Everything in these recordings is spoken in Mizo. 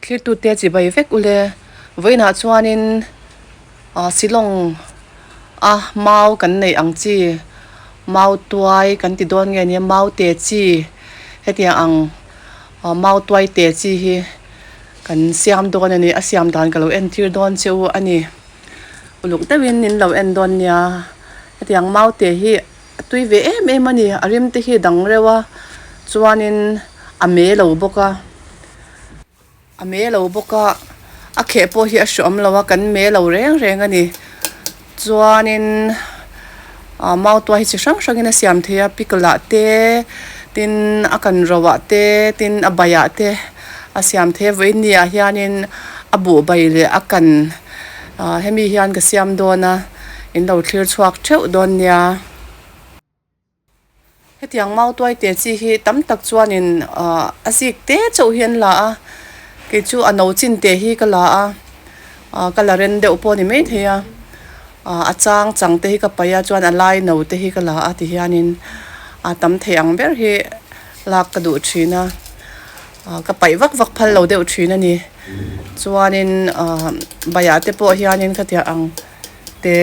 thlir tu te chi bai vek ule vawiin ah chuan in ah silawng a mau kan neih ang chi mau tuai kan ti dawn nge nia mau te chi hetiang ang. Mau tuai te chi hi kan siam dawn a ni, a siam dan ka lo entir dawn che u a ni. Uluk deuhin nin lo en dawn nia, hetiang mau te hi a tui ve em em a ni, a rim te hi dang reuh a, chuanin a me lo bawk a, a me lo bawk a, a kheh pawh hi a hrawh awm lo a, kan me lo reng reng a ni. Chuanin aah mau tua hi chi hrang hrangin a siam thei a, pickle ah te, tin a kan ro ah te, tin a bai ah te a siam thei a, vawiin ni ah hianin a buh bai leh a kan aah hemi hian ka siam dawn a, in lo thlir chhuak theuh dawn nia. Hetiang mau tuai te chi hi tam tak chuanin a zîk tê chauh hi an la a, kei chu a no chin teh hi ka la a, ka la ren deuh pawh a ni maithei a, a châng chang te hi ka paih a chuan a lai no te hi ka la a ti hianin a tam thei ang ber hi lâk ka duh ṭhîn a, ka paih vak vak phal lo deuh ṭhîn a ni. Chuanin baiah te pawh hianin khatiang ang te.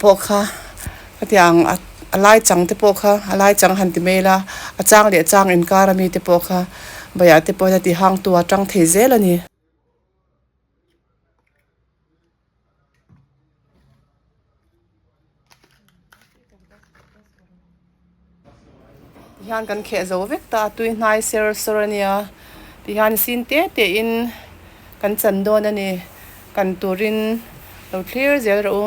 pawh kha ka ti ang a lai chang te pawh kha a lai chang han ti hmel a, a chang leh chang inkar a mite pawh kha baiah te pawhin a ti hang tu a tang thei zel a ni. Ti hian kan kheh zo vek ta a, tui hnai ser ser a nia, ti hian i sin teh teh in kan chan dawn a ni, kan turin lo thlir zel rawh u.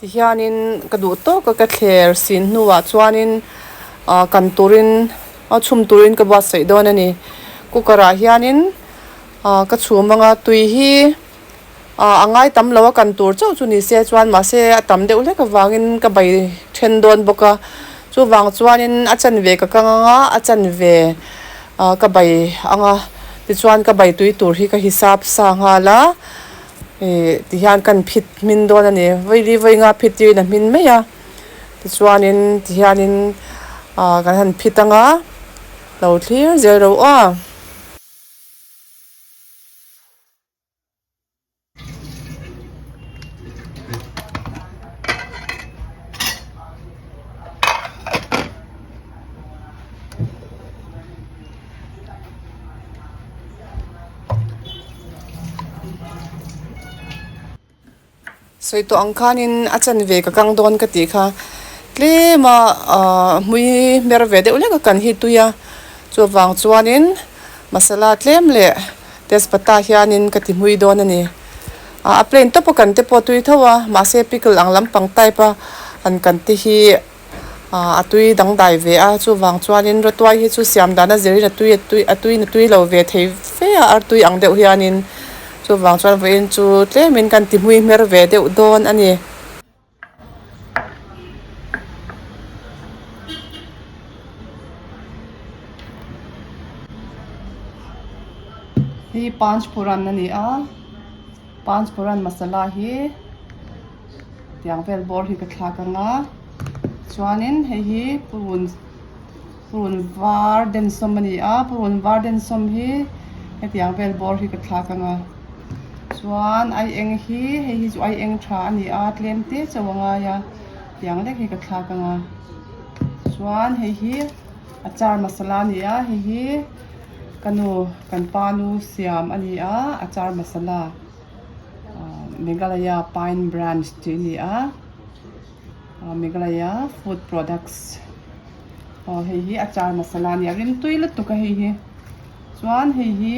Ti hianin ka duh tawk a, ka thler sin hnuah chuanin kan turin a chhum turin ka buat saih dawn a ni. Cooker ah hianin ka chhum ang a, tui hi a ngai tam lo a, kan tur chauh chu ni se chuan mahse a tam deuh hlek avangin ka bai then dawn bawk a, chuvang chuanin a chan ve ka kang ang a, a chan ve ka bai ang a, tichuan ka bai tui tur hi ka hisap sa nghal a. Ih ti hian kan phit hmin dawn a ni, vawi vawi nga phit tirh in a hmin mai a, tichuan in ti hian in ahh kan han phit anga lo thlir zel ro a. Sawi tawh ang khanin a chen ve ka kang dawn ka tih kha tlem a ah hmui hmer ve deuh lek a kan hi tui a chuvang chuanin masala tlem leh tezpata hianin ka ti hmui dawn a ni ah a plain tawpa kan te pawh tui tho a mahse pickle ang lampang type a an kan te hi-- a tui dangdai ve a, chuvang chuanin Ratuai hi chu siam dana zirin a tui a tui na tui lo ve thei fe a, ar tui ang deuh hianin chuvang chuan vawiin chu tlemin kan ti hmui hmer ve deuh dawn a ni. Hi Panchphoran a ni a, Panchphoran masala hi. Tiang vel bawr hi ka thlak anga chuanin hei hi purun purun var densawm a ni a purun var densawm hi hetiang vel bawr hi ka thlak anga chuan ai eng hi hei hi chu ai eng tha a ni a tlem te chauh a ngai a tiang lek hi ka thlak anga chuan hei hi achar masala a ni a hei hi ka nu kan pa nu siam a ni a achar masala. Meghalaya Pine Branch tih a ni a, Meghalaya Food Products aw hei hi achar masala a ni a, a rimtui lutuk a hei hi, chuan hei hi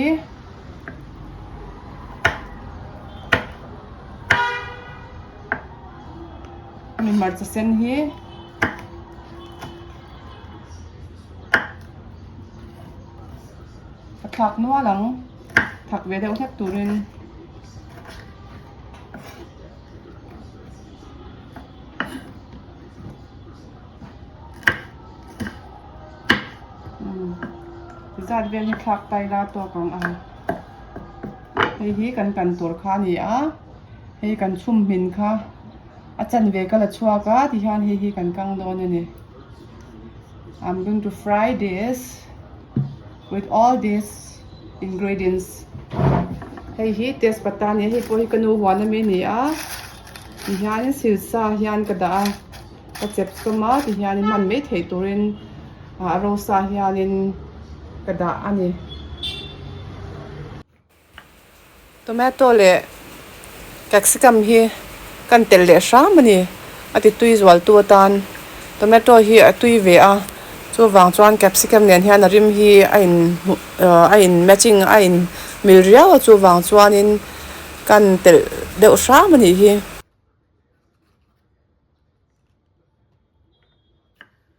hemi hmarcha sen hi a thlak nual ang. thak ve deuh hlek turin zat vel hi thlak tai la tawk ang a hei hi kan kan tur kha a ni a hei kan chhum hmin kha a chan ve ka la chhuak a ti hian hei hi kan kang dawn a ni I'm going to fry this With all these ingredients hei hi tezpata nia hei pawh hi ka nu huana mai a ni a ti hian in sil sa hian ka dah a ka chep sawm a ti hian in hman mai theih tur in a rosa hian in ka dah a ni. Tomato leh capsicum hi kan telh leh hram a ni. A ti tui zualtu atan tomato hi a tui ve a, chuvang chuan capsicum nen hian a rim hi a in hmu ahh a in matching a in mil riau a, chuvang chuanin kan telh deuh hram a nih hi.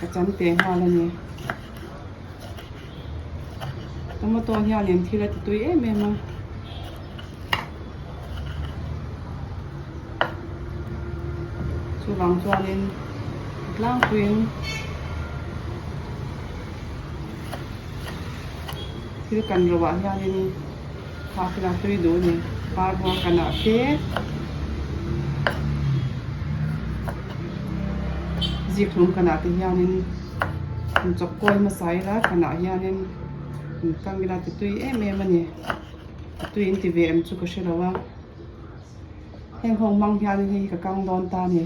Ka cham teh nghal a ni. Ka motor hianin thil a ti tui em em a. Chuvang chuanin tlangpuiin thil kan ro ah hianin. Hahna tui duh ni, par buang ka nah te. Zikhlum ka nah te hianin in chawp kual hmasa ila ka nah hianin in kam ila ti tui em em a ni. Ti tui in ti ve em chu ka hre lo a. Heng ho hmang hianin hei hi ka kang dawn ta ni.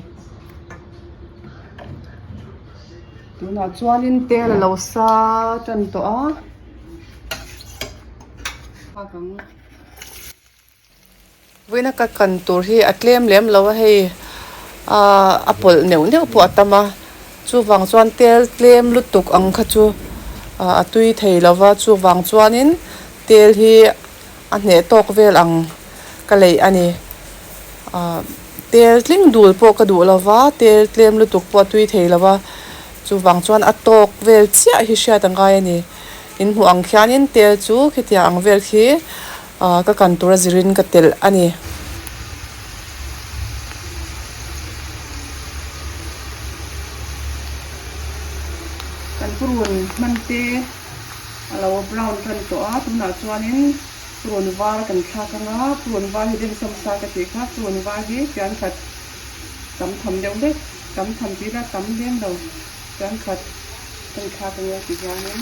Tunah chuanin tel a lo sa tan tawh a. Vawiina ka kan tur hi a tlem lem lo a, hei a pawlh neuh neuh pawh a tam a, chuvang chuan tel tlem lutuk ang kha chu a tui thei lo va, chuvang chuanin tel hi a hneh tawk vel ang ka lei a ni, tel tling dul pawh ka duh lo va, tel tlem lutuk pawh a tui thei lo va, chuvang chuan a tawk vel chiah hi hriat a ngai a ni, In hmuh ang khianin tel chu khitiang ang vel khi ka kan tur a zirin ka telh a ni. Kan purun hman te a lo brown kan tawh a, tunah chuanin purun var kan thlak ang a, purun var hi den sawm sa ka tih kha, purun var hi fian khat tam tham deuh hlek, tam tham tih ila tam hlem lo. Ṭankhat kan thlak a nia ti hianin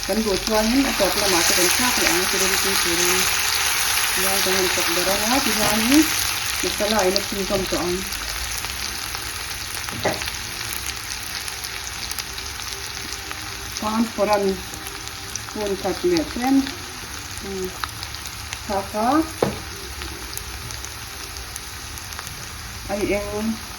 kan buh chuanin a tawp lamah te kan thlak leh ang thil engpui turin tiang kan han chawp ber anga ti hianin masala in a chhun hlawm tawh ang. Panforan hun khat leh tlem thlak a, a i eng.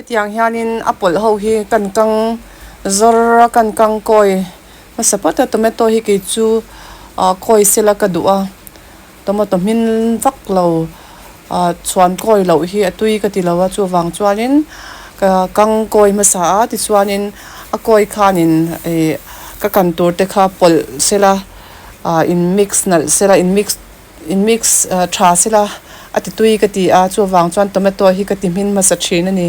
Hetiang hianin a pawlh ho hi kan kang zawr a, kan kang kawi hmasa vat a, tomato hi kei chu kawi sela ka duh a, tomato hmin vak lo chhuan kawi loh hi a tui ka ti lo a, chuvang chuanin ka kang kawi hmasa a, tichuanin a kawi khanin ka kan tur te kha pawlh sela, in mix nalh sela, in mix. In mix tha si la, a ti tui ka ti a, chuvang chuan tomato hi ka ti hmin hmasa thin a ni.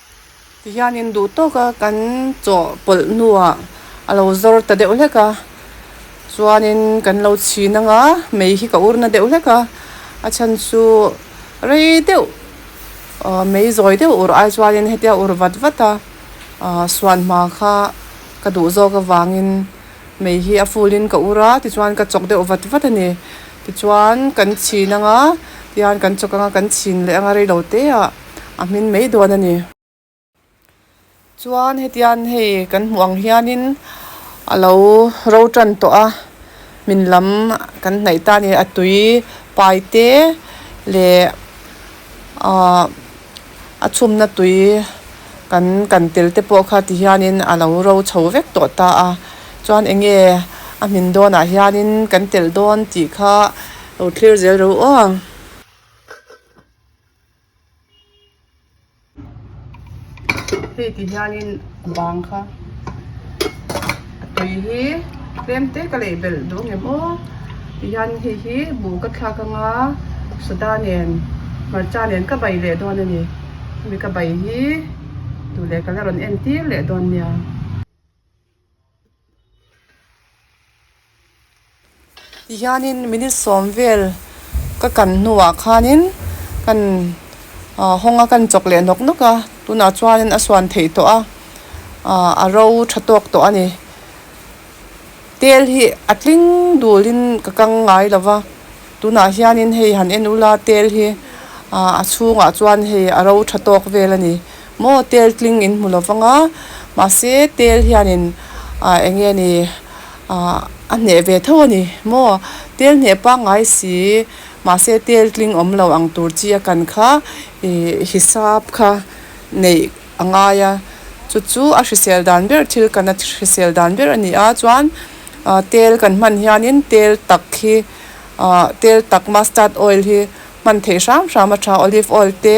Ti hian in duh tawk a, kan chawh pawlh hnuah a lo zawr ta deuh hlek a, chuanin kan lo chhin anga mei hi ka ur na deuh hlek a, a chhan chu rei deuh aw mei zawi deuh ur ai chuanin hetia ur vat vat a aw suan hma kha ka duh zawk avangin mei hi a full in ka ur a tichuan ka chawk deuh vat vat a ni, tichuan kan chhin anga tihian kan chawk anga kan chhin leh anga rei lo te ah. a hmin mai dawn a ni. Chuan hetian hei kan hmuh ang hianin a lo ro tan tawh a, min lam kan hnaih ta a ni. A tui pai te leh aah a chhumna tui kan kan tel te pawh kha ti hianin a lo ro chho vek tawh ta a. Chuan eng nge a hmin dawnah hianin kan tel dawn tih kha lo thlir zel reuh aw ang. Hei ti hianin bang kha a tui hi tlem te ka lei belh duh nge maw ti hian hei hi buh ka thlak ang a soda nen hmarcha nen ka bai leh dawn a ni hemi ka bai hi tun leh ka la rawn en tir leh dawn nia. Tihianin minute sawm vel ka kan hnuah khanin kan hawnga kan chawk leh nawk nawk a, tunah chuan a suan theih tawh a, a ro tha tawk tawh a ni. Tel hi a tling dulin ka kang ngai lova. Tunah hianin hei han en ula tel hi a chhungah chuan hei a ro tha tawk vel a ni. Maw tel tling in hmu lo vang a, mahse tel hianin eng nge ni a hneh ve tho a ni maw? Tel hneh pangngai si mahse tel tling awm lo ang tur chi a kan kha i hisap kha neih. a ngai a, chu chu a hrisel dan ber thil kan a hrisel dan ber a ni a, chuan tel kan hman hianin tel tak hi ahh tel tak mustard oil hi hman thei hram hram a tha, olive oil te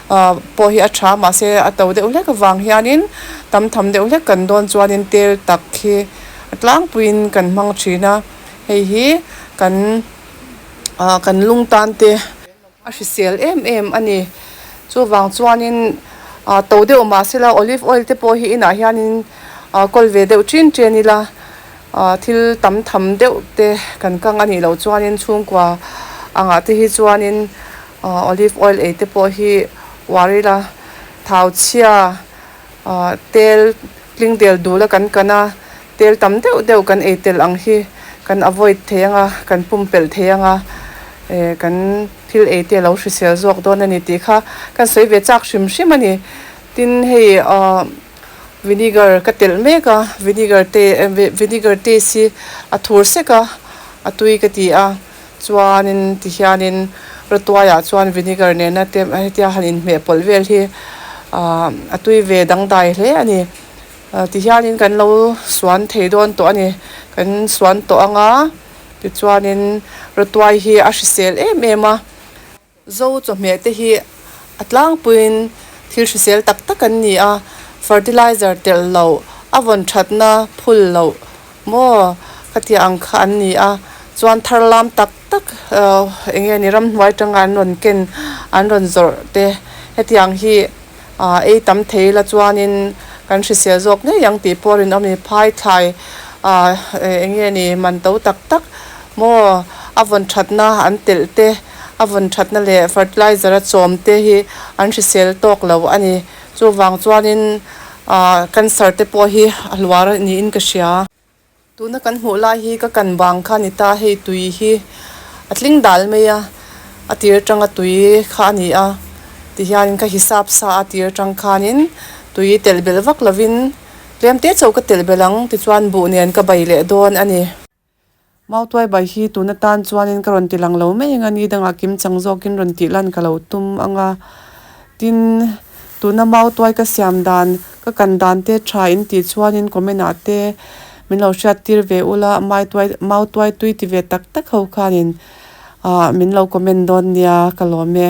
ahh pawh hi a tha mahse a to deuh hlek avang hianin tam tham deuh hlek kan dawn chuanin tel tak hi a tlangpuiin kan hmang thin a, hei hi kan ahh kan lungtante. A hrisel em em a ni. Chuvang chuanin to deuh mah se la olive oil te pawh hi inah hianin kawl ve deuh ṭin ṭian ila thil tam tham deuh te kan kang a nih loh chuanin chhungkua angah te hi chuanin olive oil ei te pawh hi uar ila thau chhia. Ahh tel tling del duh la kan kan a, tel tam deuh deuh kan ei tel ang hi kan avoid thei anga, kan pumpelh thei anga ehh kan thil ei te a lo hrisel zawk dawn a ni tih kha kan sawi ve chak hrim hrim a ni. Tin hei ahh vinegar ka telh mek a, vinegar te vinegar taste hi a thur sek a, a tui ka ti a. Chuanin ti hianin Ratuaia chuan vinegar nena te hetia han inhmeh pawlh vel hi aah a tui ve dangdai hle a ni. Ti hianin kan lo suan thei dawn tawh a ni. Kan suan tawh anga tichuanin Ratuai hi a hrisel em em a. Zo chawhmeh te hi a tlangpuiin thil hrisel tak tak an ni a, fertilizer telh loh, a vawn thatna phul loh maw ka tia ang kha an ni a, chuan thar lam tak tak enge ni ramhnuai tanga an rawn ken an rawn zawrh te hetiang hi. Aaa ei tam thei ila chuanin kan hrisel zawk ngei ang tih pawh a rinawm a ni. Phaithlai aaa eng nge ni man to tak tak maw a vawn thatna an telh te, a vawn thatna leh fertilizer a chawm te hi an hrisel tawk lo a ni. Chuvang chuanin aaa cancer te pawh hi a hluar niin ka hria. Tuna kan hmuh lai hi ka kan vang kha a ni ta, hei tui hi a tling dal mai a, a tir tanga tui kha a ni a ti hianin ka hisap sa a, tir tang khanin tui telh belh vak lovin tlem te chauh ka telh belh ang tichuan buh nen ka bai leh dawn a ni. Mau Tuaibai hi tuna tan chuanin ka rawn ti lang lo mai anga ni dangah kim chang zawkin rawn tih lan ka lo tum anga. Tin, tuna Mau Tuai ka siam dan, ka kan dan te tha in tih chuanin comment ah te min lo hriat tir ve ula Mai Tuai, Mau Tuai tui ti ve tak tak ho khanin ahh min lo comment dawn nia ka lawm e.